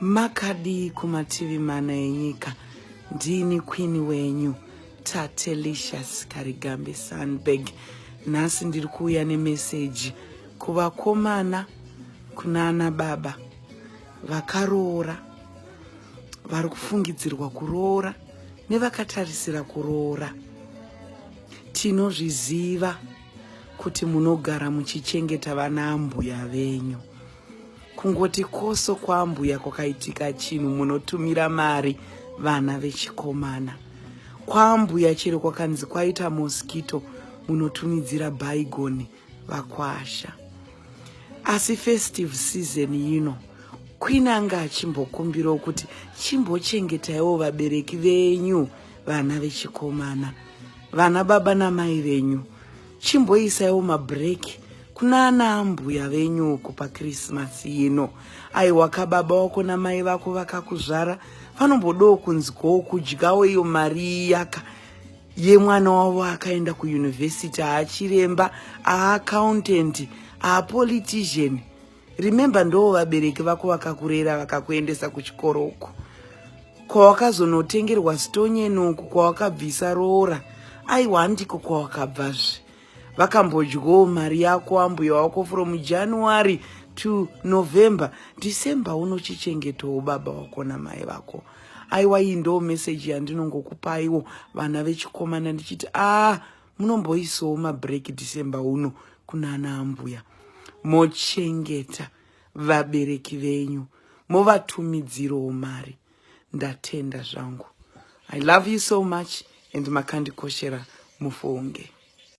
makadii kumativi mana enyika ndini queen wenyu tatelicious karigambe sunberg nhasi ndiri kuuya nemeseji kuvakomana kuna ana baba vakaroora vari kufungidzirwa kuroora nevakatarisira kuroora tinozviziva kuti munogara muchichengeta vana ambuya venyu kungoti koso kwambuya kwakaitika chinhu munotumira mari vana vechikomana kwambuya chero kwakanzi kwaita mosquito munotumidzira baigoni vakwasha asi festive season yino queen anga achimbokumbirawo kuti chimbochengetaiwo vabereki venyu vana vechikomana vana baba namai venyu chimboisaiwo mabreak kuna ana ambuya venyu uko pakrisimasi ino aiwa kababa wako namai vako vakakuzvara vanombodawo kunzwawo kudyawo iyo mari iyaka yemwana wavo akaenda kuyunivhesiti aachiremba aaccountant aapolitician remember ndoo vabereki vako vakakurera vakakuendesa kuchikoro uku kwawakazonotengerwa stonyeni uku kwawakabvisa roora aiwa handiko kwawakabvazve vakambodyawo mari yako ambuya wako from january to november december unochichengetawo baba wako namai vako aiwa iyi ndoo meseji yandinongokupaiwo vana vechikomana ndichiti a ah, munomboisawo mabreak december uno kunana ambuya mochengeta vabereki venyu movatumidzirawo mari ndatenda zvangu i love you so much and makandikoshera mufunge